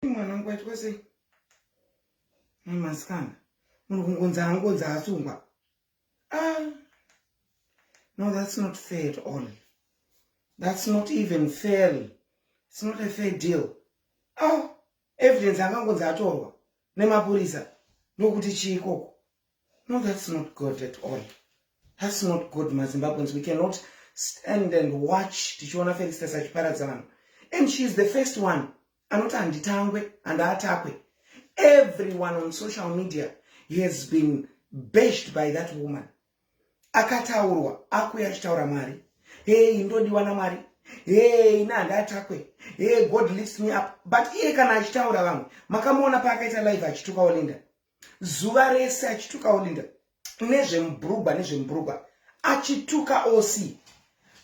mwana wangu aitwa sei mai masikana munhu kungonzi anongonzi asungwa ah. no that's not fair at all that's not even fair it's not a fair deal ah. evidence angangonzi atorwa nemapurisa ndokuti chii ikoko No, that's not good at all. That's not good, maZimbabweans. We cannot stand and watch tichiona Felicitas achiparadza vanhu. And she is the first one anoti handitangwe handaatakwe. Everyone on social media has been bashed by that woman. Akataurwa, akuya achitaura Mwari. Hey, ndodiwa naMwari. Hey, ina handaatakwe. Hey, God lifts me up. But iye kana achitaura vamwe, makamuona paakaita live achituka Olinda. zuva rese achituka olinda nezvemubhurugwa nezvemubhurugwa achituka oc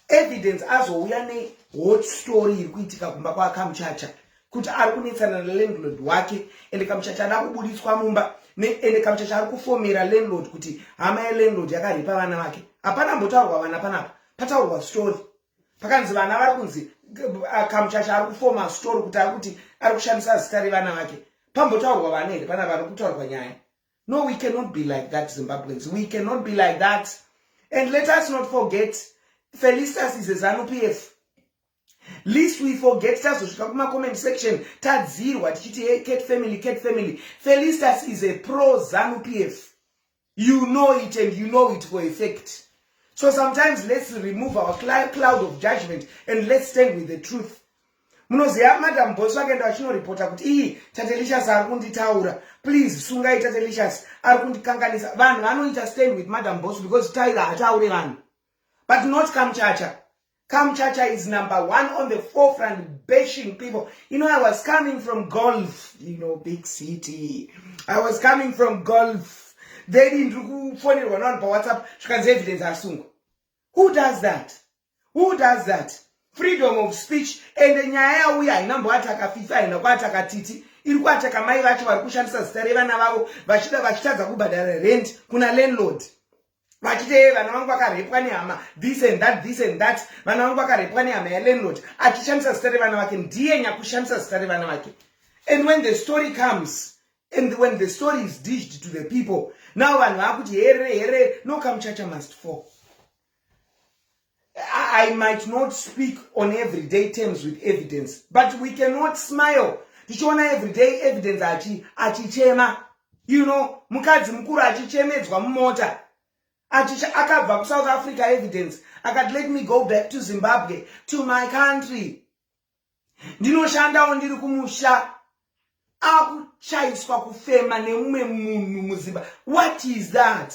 evidence azouya nehot story iri kuitika kumba kwaakamuchacha kuti ari kunetsana nalandlord wake ende kamuchacha ada kubuditswa mumba ende kamuchacha ari kufomera landlord kuti hama yelandlord yakaripa vana vake hapana mbotaurwa vana panapa pataurwa story pakanzi vana vari kunzi uh, kamuchacha ari kufoma story kuti ari kuti ari kushandisa zita revana vake pambotaurwa vana here pana vanhu kutaurwa nyaya no we cannot be like that zimbabweans we cannot be like that and let us not forget felistas is a zanu p f least we forget tazosvika kumacomment section tadzirwa tichiti hey, cat family cat family felistas is a pro zanu p f you know it and you know it for a fact so sometimes let's remove our cloud of judgment and let's stand with the truth munoziva madam bos vakaenda vachinoreporta kuti iyi tatelicious ari kunditaura please sungai tatelicious ari kundikanganisa vanhu vanoita stand with madam bos because tyra hataure vanhu but not kamuchacha Kamchacha is number one on the forefront bashing people. You know, I was coming from Gulf, you know, big city. I was coming from Gulf. They didn't do funny one on WhatsApp. She can say evidence asungwa. Who does that? Who does that? Freedom of speech and the nyaya yauya haina mboataka fifa haina kuataka titi iri kuataka mai vacho vari kushandisa zita revana vavo vachida vachitadza kubhadhara rent kuna landlord vachiti ee vana vangu vakarepwa nehama this and that this and that vana vangu vakarepwa nehama yalandlord achishandisa zita revana vake ndiye nyakushandisa zita revana vake and when the story comes and when the story is dished to the people now vanhu vakuti here here no kamuchacha must fall I might not speak on everyday terms with evidence, but we cannot smile. Tichiona everyday evidence achi achichema. You know, mukadzi mukuru achichemedzwa mumota. Achicha akabva ku South Africa evidence. Akati let me go back to Zimbabwe to my country. Ndinoshandawo ndiri kumusha. Akuchaiswa kufema nemumwe munhu muZimbabwe. What is that?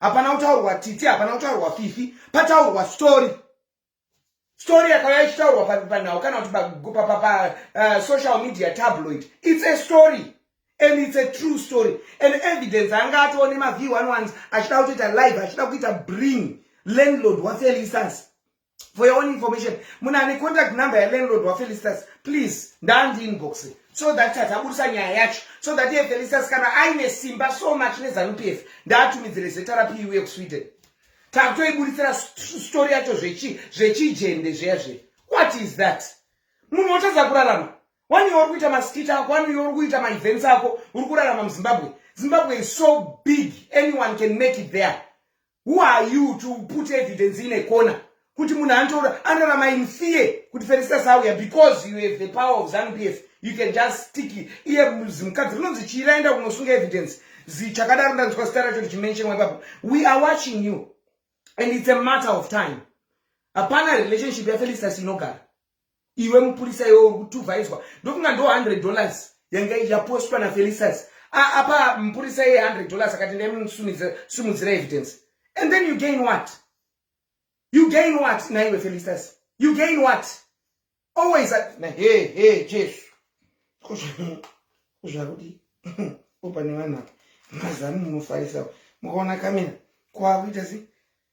hapana kutaurwa titi hapana kutaurwa fifi pataurwa story story yakauya ichitaurwa panhau kana kuti pasocial eh, media tabloid its a story and its a true story and evidence anga atoone maview anowanzi achida kutoita live achida kuita bring landlord wafelisas for your own information munhu ane contact number yalandlord wafelistas please ndandi inbox so that tatabudisa nyaya yacho so that iye felicitas kana aine simba so much nezanup f ndaatumidzire zeta rapi iuye kusweden takutoibuditsira story yacho zvechijende zveya zve what is that munhu wotadza kurarama wani uri kuita maskita ako wani uri kuita maevents ako uri kurarama muzimbabwe zimbabwe is so big anyone can make it there who are you to put evidence in a corner kuti munhu anotaura anorama in fear kuti feristas auya because you have the power of zanupf you can just stick iye zimukadzi rinonzi chii raenda kunosunga evidence zichakadaro ndanzwa zita racho richimentionwa ipapo we are watching you and it's a matter of time hapana relationship yafelistas inogara iwe mupurisa iwe uri kutuvhaizwa ndokunga ndo 100 dollars yanga yapostwa nafelisas apa mupurisa iye 100 dollars akati ndaimusimudzira evidence and then you gain what you gain what naiwe felisas you gain what always he he jesu kuzvakudi opane vanhu apa mazanu munofarisa mukaona kamina kwakuita sei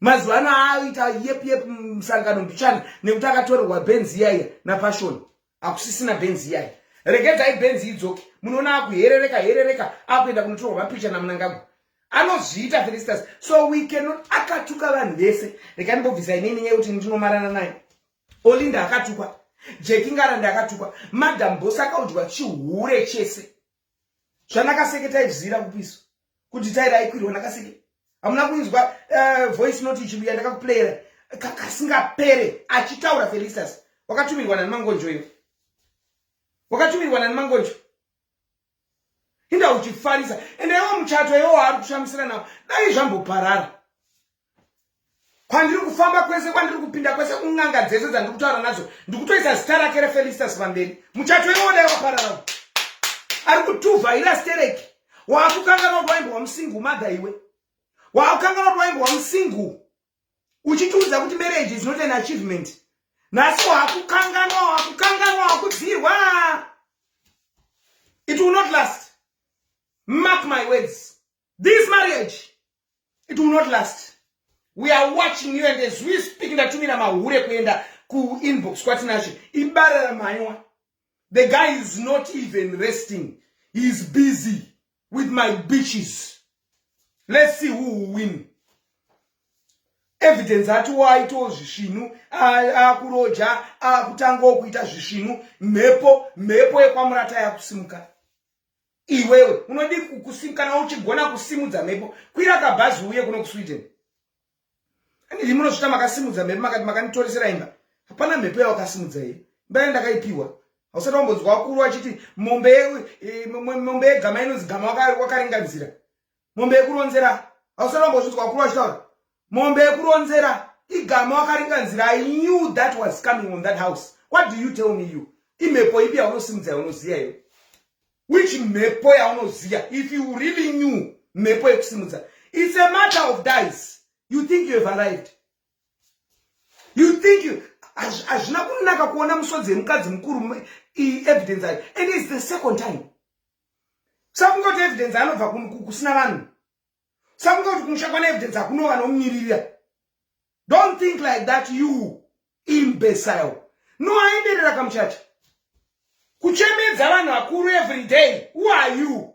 mazuva ano aaita yep yep musangano mbichana nekuti akatorerwa benzi iyaiya napashoni hakusisina benzi iyaiya regedzai benzi idzoke munoona akuherereka herereka akuenda kunotorwa mapicha namunangagwa anozviita felistas so we cannot akatuka vanhu vese rekani bobvisa inini nyaya yekuti ndinomarana naye olinda akatukwa jekingarandi akatukwa madam bos akaudyiwa chihure chese zvanakaseke taizira kupiso kuti taira aikwirwa nakaseke hamuna kuinzwa eh, voice note ichibuya ndakakuplayera kasingapere achitaura felistas wakatumirwa nani mangonjo iyo wakatumirwa nani mangonjo inda uchifarisa ende iwo muchato iwo waari kushamisira nawo dai zvamboparara kwandiri kufamba kwese kwandiri kupinda kwese kun'anga dzese dzandiri kutaura nadzo ndikutoisa zita rake refelistas pamberi muchato iwoodai wapararao ari kutuva ira stereki waakukanganwa kuti waimbo wamusingu madha iwe waakukanganwa kuti waimbo wamusingu uchitiudza kuti marriage is not an achievement nhasi waakukanganwa waakukanganwa waakudzirwa it will not last mark my words This marriage, it will not last. We are watching you and as we speak, ndatumira mahure kuenda ku inbox kwatinashe ibara ramaiwa the guy is not even resting he is busy with my bitches let's see who will win evidence ati waitawo zvisvinu akuroja akutangawo kuita zvisvinu mhepo mhepo yekwamurata yakusimuka iwewe unodi kukusim kana uchigona kusimudza mhepo kwira kabhazi uye kuno kusweden andidi munosvita makasimudza mhepo makati makanditoresera imba hapana mhepo yawakasimudza here imba yai ndakaipiwa hausati wambonzwa wakuru achiti mombe yegama inonzi gama wakaringanzira mombe yekuronzera hausana mbozvinzwa vakuru vachitaura mombe yekuronzera igama wakaringa nzira i knew that was coming on that house what do you tell me you imhepo ipi yaunosimudza yaunoziva iyo which mhepo yaunoziva if you really knew mhepo yekusimudza it's a matter of dies you think you have arrived you think you hazvina kunaka kuona musodzi yemukadzi mukuru evidence ayo and its the second time sakungoti evidence anobva kusina vanhu sakungoti kumusha kwana evidence akuno vanomumiririra don't think like that you imbecile no aenderera kamuchacha kuchemedza vanhu vakuru every day who are you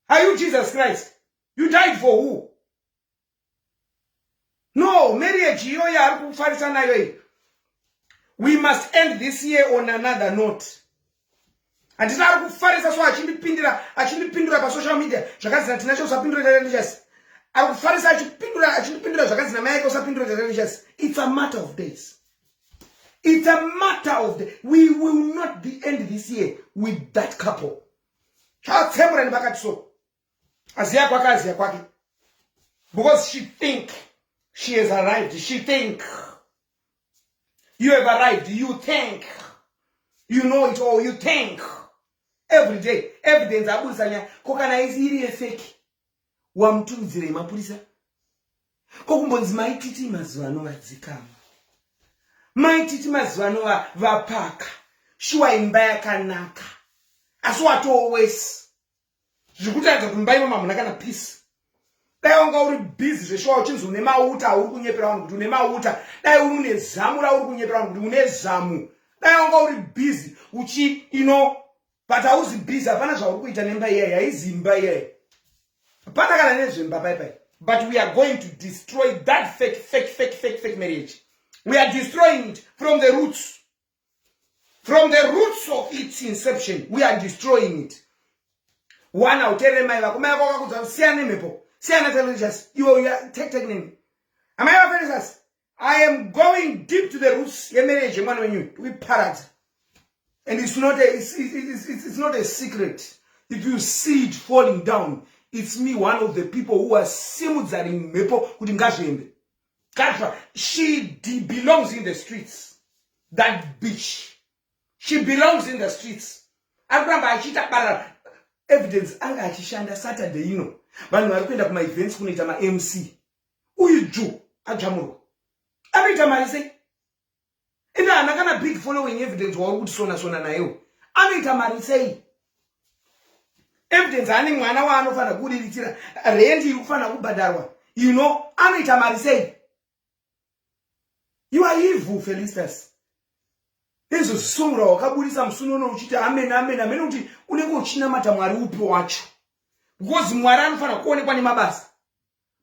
are you jesus christ you died for who no marriage iyo yaari kufarisa nayo iyi we must end this year on another note handina ari kufarisa so achindipindira achindipindura pasocial media zvakazina tinacho usapindura tatandichasi ari kufarisa achipindura achindipindura zvakazina mai yake usapindura tatandichasi it's a matter of days it's a matter of day we will not be end this year with that couple chatsemurani vakati so aziya kwake aziya kwake because she think she has arrived she think you have arrived you think you know it all you think every day evidence abudisa nyaya ko kana isi iri yefeki wamuturudzirei mapurisa ko kumbonzi maititi mazuva ano vadzikama maititi mazuva ano vapaka shuwa imba yakanaka asi watowesi zvikutaridza kuti mumba imomo hamuna kana peace dai wanga uri busy zveshuwa uchinzi une mauta auri kunyepera vanhu kuti une mauta dai uri une zamu rauri kunyepera vanhu kuti une zamu dai wanga uri busy uchi ino but hauzi busy hapana zvauri kuita nemba iyayi haizi imba iyayi hapana kana nezvemba pai pai but we are going to destroy that fake fake fake fake fake marriage we are destroying it from the roots from the roots of its inception we are destroying it one hauterere mai vako mai vako vakakudza kuti siyana nemhepo siyana telicious iwe uya tektek neni amai vafelisas i am going deep to the roots yemarriage yemwana wenyu tikuiparadza and it's not a, it's, it's, it's, it's not a secret if you see it falling down it's me one of the people who are simudzaring mhepo kuti ngazviende Katra, she belongs in the streets. That bitch. She belongs in the streets. Akuramba achita barara. Evidence anga achishanda Saturday ino. Vanhu vari kuenda kuma events kunoita ma MC. Uyu ju adzvamurwa. Anoita mari sei? ende hana kana big following evidence wauri kuti sona sona nayewo anoita mari sei evidence ane mwana waanofanira kuriritsira rendi iri kufanira kubhadharwa you know anoita mari sei you are evil felistas izvo zvisongora wakaburitsa musuni uno uchiti amen amen amene kuti unenge uchinamata mwari upi wacho because mwari anofanira kuonekwa nemabasa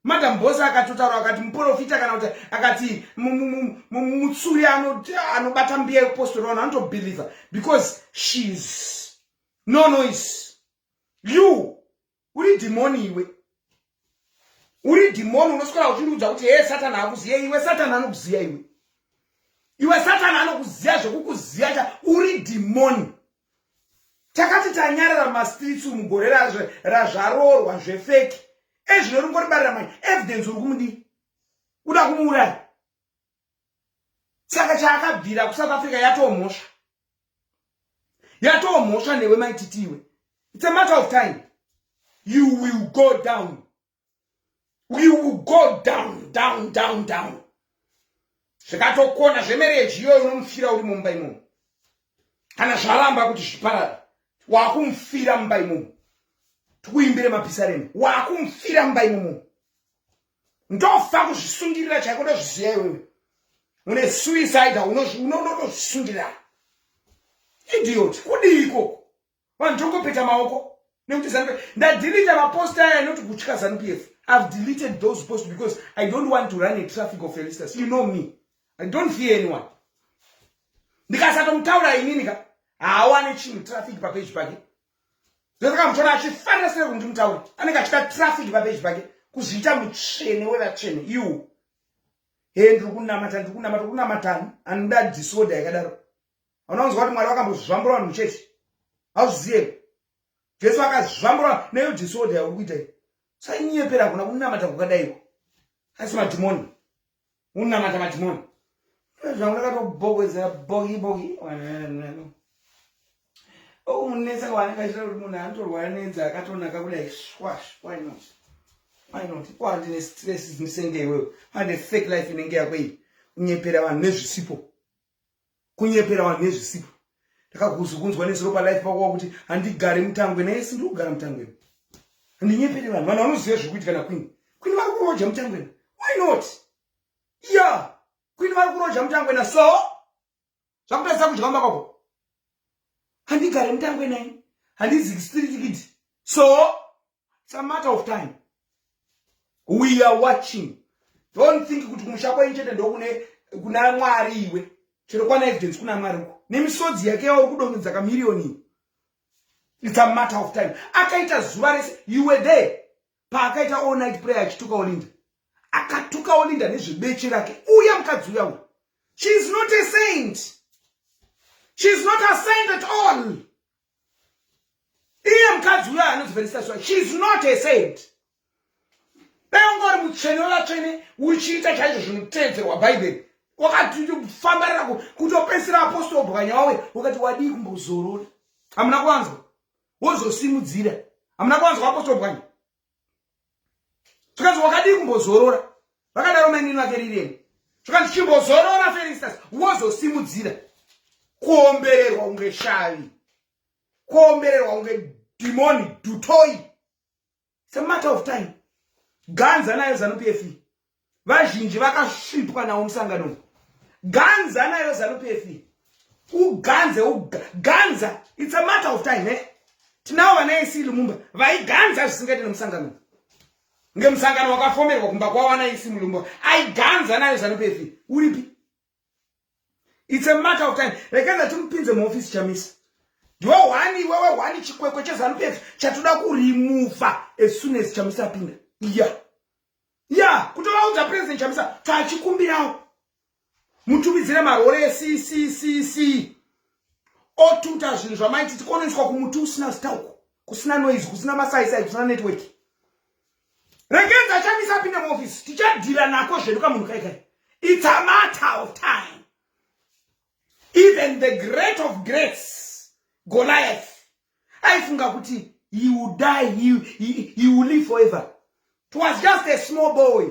madam bose akatotaura akati muprofita kana kuti akati mutsuri anobata mbiya yekupostori vanhu anotobhilivha because shes no noise you uri dhimoni iwe uri dhimoni unoswera uchindiudza kuti hee satani akuziya iwe satani anokuziya iwe iwe satani anokuziya zvekukuziya cha uri dhimoni takati tanyarara mastreets umu gore razvaroorwa zvefeki ezvino ringoribarira mai evidence uri kumudii uda kumuuraya saka chaakabvira kusouth africa yatomhosva yatomhosva newe maititiwe its a matter of time you will go down we will go down down down down zvikatokona zvemereji iyoyo unomufira uri mumba imomo kana zvaramba kuti zviparara wakumufira mumba imomo tikuimbire mapisareni wakumufira mumba imomo ndofa kuzvisungirira chaiko ndozviziva iwewe une suicide unozvisungirira idiot kudii ikoko vanhu tongopeta maoko nekuti zanupf ndadhilita mapost aya not kutya zanupf i've deleted those posts because i don't want to run a traffic of felistas you know me i don't fear anyone ndikasatomutaura inini ka haawane chinhu traffic papeji pake ndosaka muchona achifanira sere kuti ndimutaure anenge achida traffic papeji pake kuzviita mutsvene wevatsvene iwo he ndiri kunamata ndiri kunamata kunamatani anoda disorder yakadaro hauna kunzwa kuti mwari vakambozvambura vanhu muchechi hauzviziye jesu akazvambura neyo disorder yauri kuita iyo sainyepera hakuna kunamata kukadaiko asi madhimoni unamata madhimoni zvangu ndakatobhokwezera bogi bogi omunetsa kwaanenge achita kuti munhu anotorwara nenzi akatonaka kudai swash why not why not ko handine stress dzimisenge iwewe hande fake life inenge yako iyi kunyepera vanhu nezvisipo kunyepera vanhu nezvisipo ndakakuzokunzwa nezuro palife pako wakuti handigare mutangwe naye sindiri kugara mutangweni handinyepere vanhu vanhu vanoziva zviri kuitika nakwini kwini vari kuroja mutangwena why not ya kwini vari kuroja mutangwena so zvakutadzisa kudya mba kwako handigare mutangwenai handizikistirikiti so it's a matter of time we are watching don't think kuti kumusha kwenyu chete ndokune kuna mwari iwe chero kwana evidence kuna mwari uko nemisodzi yake yauri kudongedza kamirioni it's a matter of time akaita zuva rese you were there paakaita all night prayer achituka olinda akatuka olinda nezvebeche rake uya mukadzi uya uya she is not a saint she is not a saint at all iye mukadzi uyo anozivhenisa swa she is not a saint beungori mutsvene wevatsvene uchiita chaizvo zvinotedzerwa bhaibheri wakatofambarira kutopedzisira apostol bwanya wawe wakati wadii kumbozorora hamuna kuwanzwa wozosimudzira hamuna kuwanzwa apostol bwanya zvikanzi wakadii kumbozorora vakadaro mainini vake riremu zvikanzi chimbozorora felistas wozosimudzira kuombererwa kunge shavi kuombererwa kunge dhimoni dutoi sematter of time ganza nayo zanupf vazhinji vakasvipwa nawo musangano uyu ganza nayo zanupf uganze uganza its a matter of time eh? tinawo vana ac lumumba vaiganza zvisingaite nemusangano uyu ngemusangano wakafomerwa kumba kwawana ac mulumba aiganza nayo zanupf uripi its a matter of time rekai ndatimupinze muofisi chamisa ndiwe hwani iwewe hwani chikwekwe chezanupf chatoda kurimuva as soon as chamisa apinda iya yeah. iya yeah. kutovaudza president chamisa taachikumbirawo mutumidzire marore eccc otuta zvinhu zvamaiti tikonoiswa kumuti usina zita uku kusina noise kusina masaisai kusina network Regenzi achamisa apinde muofisi tichadhira nako zvedu kamunhu kai kai it's a matter of time even the great of greats goliath aifunga kuti he will die he, he, he will live forever it was just a small boy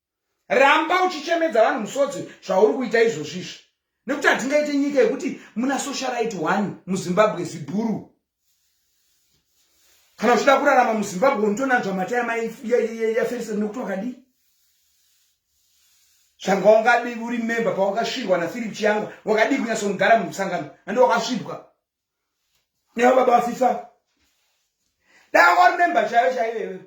ramba uchichemedza vanhu musodzi zvauri kuita izvozvi izvi nekuti hatingaite nyika yekuti muna socialite one muzimbabwe zibhuru kana uchida kurarama muzimbabwe unotonanzva mata yamayaferisa nekuti wakadii zvanga wangadii uri member pawakasvirwa naphilip chiyangwa wakadii kunyatsonogara mumusangano andi wakasvibwa Neo baba fifa. Dai wari member chaiyo chaiyo iwewe.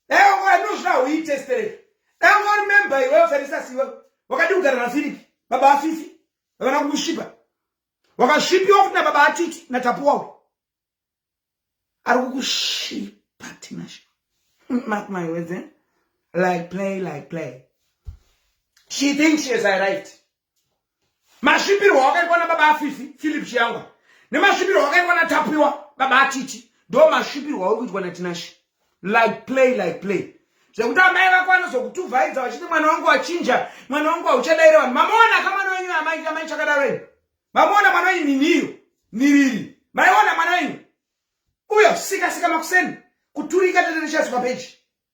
Dai wanga anozvina huitestere. Dai wanga wari member iwewe Felisa siwe. Wakadi kugara na Philip baba afifi. Vana kukushipa. Wakashipiwa kuti na baba atiti na tapuwa. Ari kukushipa Tinashe. Mark my words, eh? Like play, like play. She thinks she has arrived. masvipirwa wakaitwa na baba afifi philip chiyangwa nemasvipirwa wakaitwa na tapiwa baba atiti ndo masvipirwa uri kuitwa na tinashe like play like play zvekuti amai vako vanozokutuvhaidza vachiti mwana wangu wachinja mwana wangu hauchadaire vanhu mamuona ka mwana wenyu amai amai chakadaro eni mamuona mwana wenyu niniyo niriri maiona mwana wenyu uyo sika sika makuseni kuturika teterechazi papeji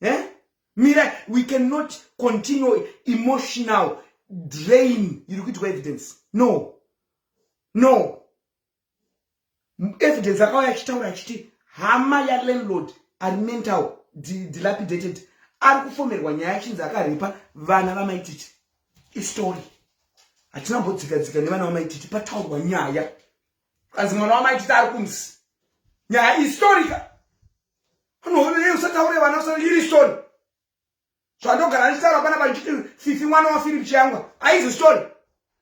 eh? mira we cannot continue emotional drain iri kuitwa evidence no no evidence akauya achitaura achiti hama yalandlord ari mental dilapidated ari kufomerwa nyaya achinzi akaripa vana vamaititi istory hatina mbodzikadzika nevana vamaititi pataurwa nyaya kanzi mwana wamaititi ari kumsi nyaya istorika anohorei usataure vana usa iri story zvandogara ndichitaura pana pandichiti fifi mwana wafiripi chiyangwa aizi story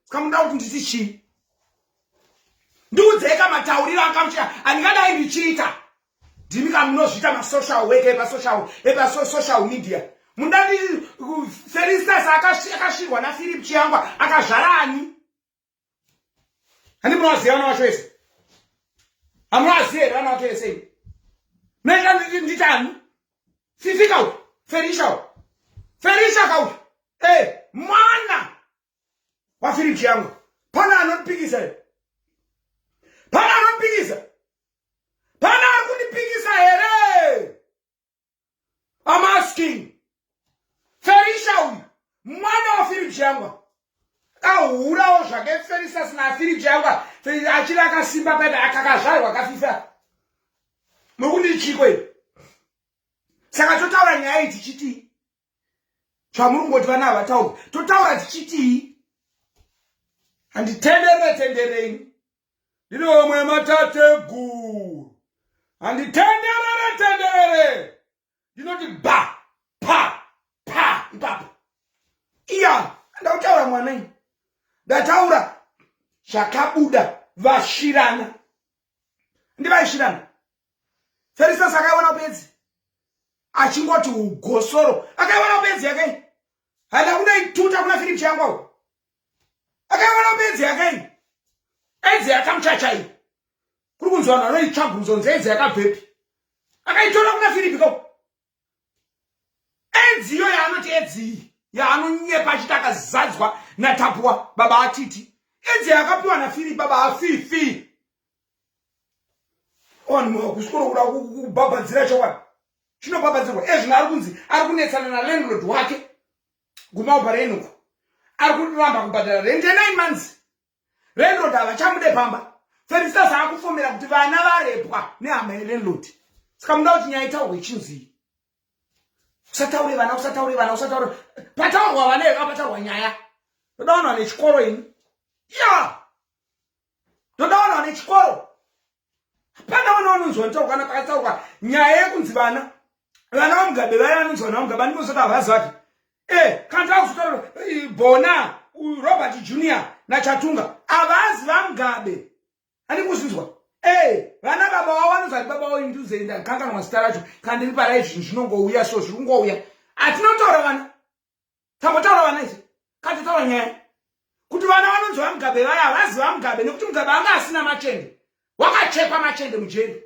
ska muda kuti nditi chii ndiudzei ka matauriro akamuchita andingadai ndichiita ndimi ka munozviita masocial weke epasocial epasocial media mundati feristas akashirwa nafiripi chiyangwa akazvara ani handi munovaziva vana vacho vese hamuvaziva here vana vacho vese ivi munoita nditani fifika uyu ferisha uyu ferisha ka uyu e eh, mwana wafiripi yangu pana anondipikisa here pana anondipikisa pana ari kundipikisa here I'm asking. Felisha uyu mwana waFilip Chiyangwa kahurawo zvake Felisha sina Filip Chiyangwa achiri akasimba paipe akakazvarwa kafifa nokuti chiko iri saka totaura nyaya iyi tichitii zvamuri kungoti vana havatauri totaura tichitii handitenderere tendereini ndiri omwe matateguru handitenderere tenderere ndinoti ba pa pa ipapo iya ndautaura mwana ini ndataura zvakabuda vashirana ndivaishirana ferisas akaiona bedzi achingoti ugosoro akaiona bedzi yakai hana kunaituta kuna firipi chiyangwao akawana bedzi yake iyi edzi yakamuchacha iyi kuri kunzi vanhu vanoitsva bvunzo nzi edzi yakabvepi akaitora kuna firipi ko edzi iyo yaanoti edzi iyi yaanonyepa achiti akazadzwa natapwa baba atiti edzi yakapiwa nafiripi baba afifi kusvikoro kuda kubhabhadzira chokwadi chinobhabhadzirwa ezvino ari kunzi ari kunetsana nalandlord wake kumaubva renuku ari kuramba kubhadhara rent yenine months renrod havachamude pamba felistas akufomera kuti vana varepwa nehama yerenrod saka muda kuti nyaya itaurwe chinzii usataure vana usataure vana usataure pataurwa vana ivapataurwa nyaya toda vanhu vane chikoro ini ya yeah. ndoda vanhu vane chikoro hapana vana vanonzwa nitaurwa kana pakataurwa nyaya yekunzi vana vana vamugabe vaya vanonzi vana vamugabe andimozota havazi vake e eh, kana takuzotaura eh, bona robert junior nachatunga havazi vamugabe andikuzvinzwa ee vana baba wavo vanonzi ati baba wavo induzenda kanganwa zita racho kandiri parai zvinhu zvinongouya so zviri kungouya atinotaura vana tambotaura vana izvi katotaura nyaya kuti vana vanonzi vamugabe vaya havazi vamugabe nekuti mugabe anga asina machende wakachekwa machende mujeri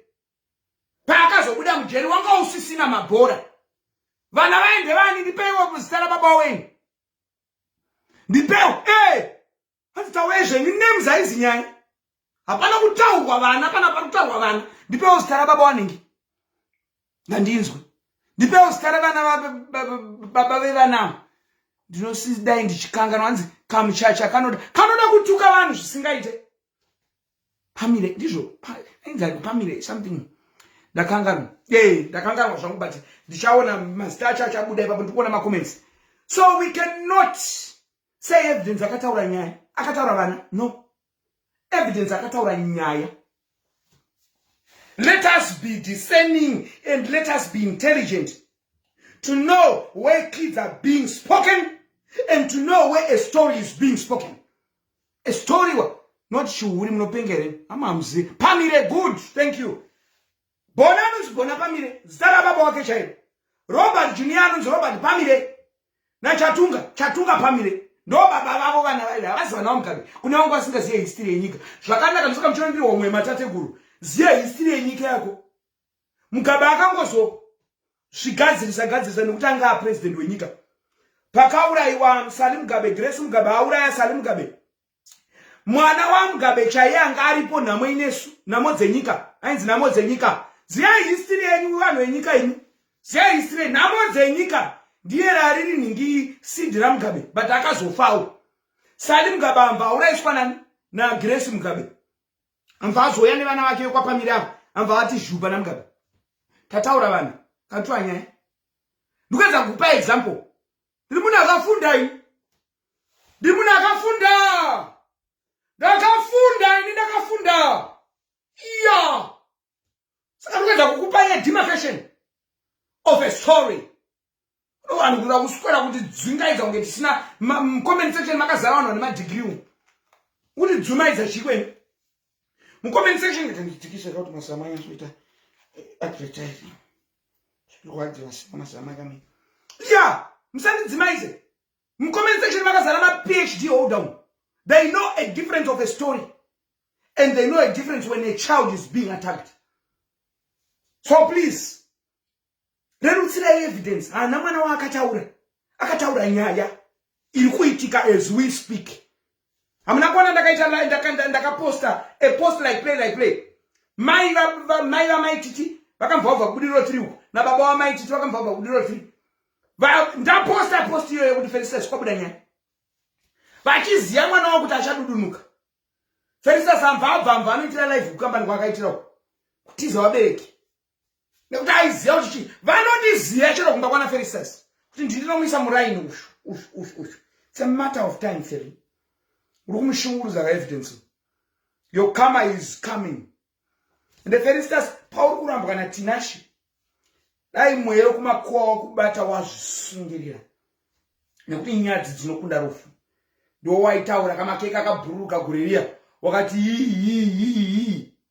paakazobuda mujeri wanga usisina mabhora vana vaende vani ndipeiwo muzita rababa wenyu ndipeiwo e hanzi taurai zvenyu names haizi nyaya hapana kutaurwa vana pana pari kutaurwa vana ndipewo zita rababa wanenge ngandinzwe ndipewo zita revana baba vevanawo ndinosidai ndichikanganwa hanzi kamuchacha kanoda kanoda kutuka vanhu zvisingaite pamire ndizvo ainzani pamire something ndakanganwa e ndakanganwa zvangu but ndichaona mazita acho achabuda ipapo ndikuona macomments so we cannot sei evidence akataura nyaya akataura vana no evidence akataura nyaya let us be discerning and let us be intelligent to know where kids are being spoken and to know where a story is being spoken a story not shuhuri munopengere amamuzivi pamire good thank you bona anonzi bona pamire zita rababa wake chairo robert junior anonzi robert pamire nachatunga chatunga pamire ndo baba vavo vana vaive havazivanawo mukabe kune vangu vasingazive histiri yenyika zvakanaka ndosaka muchiona ndiri homwe yematateguru ziva histiri yenyika yako mukabe akangozo zvigadzirisa gadzirisa nekuti anga apresident wenyika pakaurayiwa sali mugabe grace mugabe auraya sali mugabe mwana wamugabe chaiye anga aripo nhamo inesu nhamo dzenyika ainzi nhamo dzenyika ziyai histiri yenyu vanhu venyika imi ziyai histiri nhamo dzenyika ndiye rariri nhingi sindi ramugabe but akazofawo sali mugabe amva auraiswa nani nagresi mugabe amva azouya nevana vake vekwapamiri avo amva vati zhuba namugabe tataura vanhu katuanyaya ndikuedza kukupa example ndiri munhu akafunda ini ndiri munhu akafunda ndakafunda ini ndakafunda iya saka ndikuedza kukupa ye demarcation of a story vanhu kuda kuswera kuti dzungaidza kunge tisina comment section makazara vanhu vane madigiri umu kuti dzumaidza chikwenu mucomment section kuti nditikise kuti masamanyasoita eh, advertising zvirwadziwa sina mazama kami ya musandidzimaize mucomment section makazara maphd holder umu they know a difference of a story and they know a difference when a child is being attacked so please rerutsirai evidence haana mwana waakataura akataura nyaya iri kuitika as we speak hamuna kuona ndakaita ndakaposta a post like play like play mai mai vamai titi vakamvaubva kubudiriro tiri uko nababa wamai titi vakamvaubva kubudiriro tiri ndaposta post iyoyo yekuti felistas kwabuda nyaya vachiziva mwana wavo kuti achadudunuka felistas amva abva amva anoitira live kukambani kwaakaitira uko kutiza vabereki nekuti aiziva kuti chii vanondiziva chero kumba kwana ferisas kuti ndinomuisa muraini uyu uyu uyu uyu it's a matter of time feri uri kumushungurudza kaevidence your karma is coming ende feristas pauri kurambwa natinashe dai mweya wekumakuwa wakubata wazvisungirira nekuti nyadzi dzinokunda rufu ndowaitaura kamakeka akabhururuka guririya wakati yiyiyiyiyi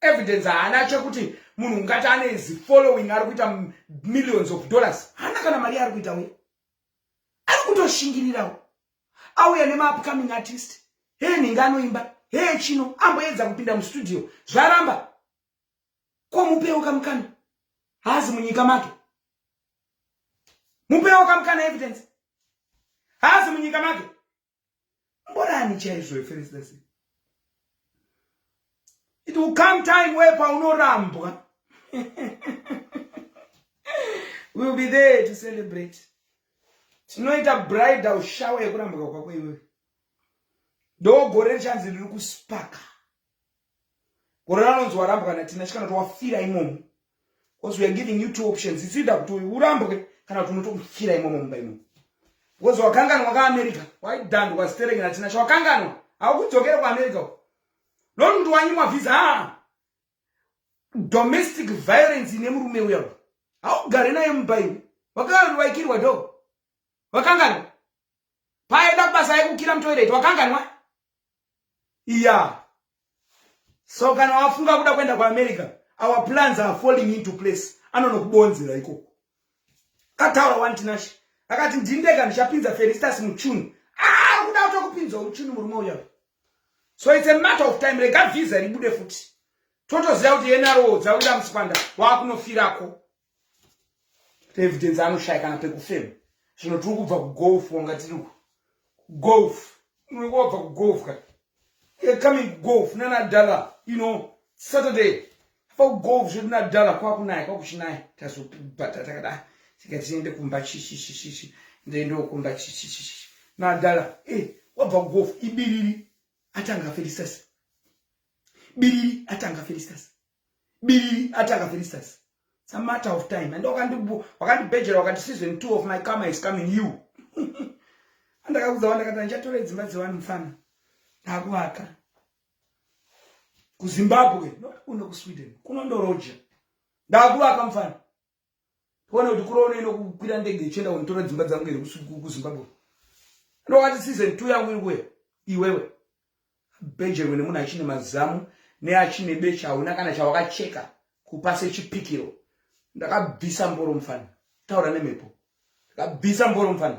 evidence haana chekuti munhu ungati ane zi following ari kuita millions of dollars haana kana mari yaari kuita uye ari kutoshingirirawo auya nemaupcoming artist hee nhinga anoimba hee chino amboedza kupinda mustudio zvaramba ko mupewo kamukana haazi munyika make mupewo kamukana evidence haazi munyika make mborani chaizvo iferesitasi it will come time where paunorambwa we'll be there to celebrate tinoita bridal shower yekurambwa kwako iwewe ndogore richanzi riri kuspaka gore ranonzi warambwa natina chikana kuti wafira imomo because weare giving you two options itsuida kuti urambwe kana kuti unotofira imomo mumba imomo because wakanganwa kaamerica waidhandwa kwazitereki natina chawakanganwa haukudzokere kuamerica uko not kuti wanyimwa vhiza haa domestic violence ine murume uya haugare naye mumba iwe wakawaikirwa do wakanganwa paenda kubasa yekukira mutoireti wakanganwa Yeah. So kana wafunga kuda kuenda kuAmerica, our plans are falling into place. Anonokubonzera ikoko. Kataura wani Tinashe. Akati ndindega ndichapinza Felistas muchunu. Ah, kuda kutokupinza muchunu murume uya. So it's a matter of time. Rega visa ribude futi. Totoziva kuti NRO dzabuda musikwanda wakunofirako. evidence anoshaya kana pekufema zvino tiri kubva kugolf wanga tiri golf unenge wabva kugolf ka coming golf nanadala you know saturday apa kugolf zvedu nadala kwakunaya kwakuchinaya tazobata takadai tika tiende kumba chishishishishi ndendokumba chishishishi nadala e eh, wabva kugolf ibiriri atanga felisasi biriri atanga felisasi biriri ati akafiristas it's a matter of time and wakandibhejera wakati season two of my karma is coming you andakaudza wandakati andichatora dzimba dzewani mufana ndakuvaka kuzimbabwe not kuno kusweden kunondoroja ndakuvaka mufana Kuona kuti kuro unoenda kukwira ndege ichienda kunitora dzimba dzangu here kuZimbabwe. Ndokati season 2 yangu iri kuya iwewe. Bejerwe nemunhu achine mazamu neachine becha hauna kana chawakacheka kupa sechipikiro. Ndakabvisa mboro mufana. Taura nemhepo. Ndakabvisa mboro mufana.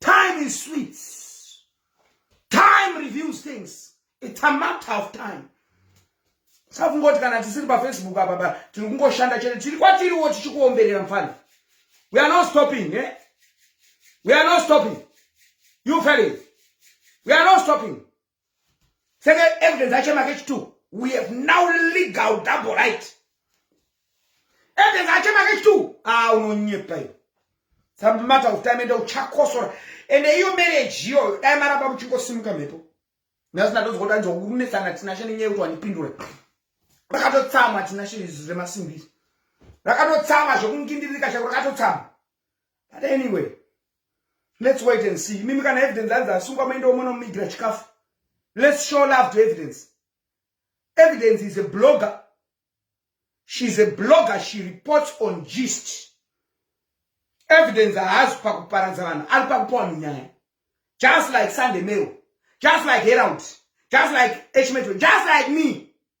time is sweet time reviews things it's a matter of time saka kungoti kana tisiri pafacebook apa ba tiri kungoshanda chete tiri kwatiriwo tichikuomberera mfana we are not stopping eh? we are not stopping you felling we are not stopping senge evidence acho make chitu we have now legal double right evidence acho make chitu a ah, unonyepa iyo samata kutime ende uchakosora ende iyo marriage iyo dai maramba muchingosimuka mhepo nasina ndozokota nzwa kunetsana tinashe nenyaya yekuti wandipindure rakatotsamwa tinashe izwi remasimbiri rakatotsamwa zvekungindiririka chako rakatotsamwa but anyway let's wait and see mimi kana evidence anzi asungwa mainda omona mumigira chikafu let's show love to evidence evidence is a blogger she's a blogger she reports on gist evidence haazi pakuparadza vanhu ari pakupa vanhu nyaya just like sunday mail just like herald just like hmn just like me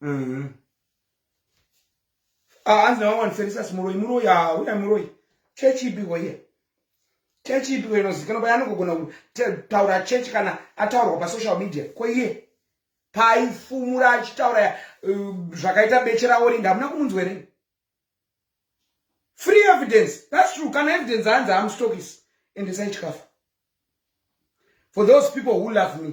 mm. ah, hanzi navamwe vandiserisasi muroyi muroyi ha uya muroyi chechi ipiko iye chechi ipiko inozikanwa paya anogogona kutaura chechi kana ataurwa pasocial media ko iye paaifumura achitaura uh, zvakaita beche raorinda hamuna kumunzwa here free evidence thats true kana evidence hanzi amstokis ende saichikafa for those people who love me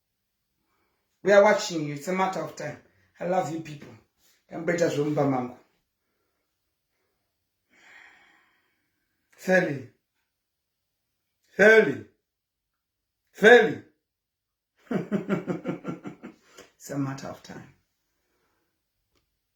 we are watching you it's a matter of time i love you people ndamboita zvomumba mangu feli feli feli it's a matter of time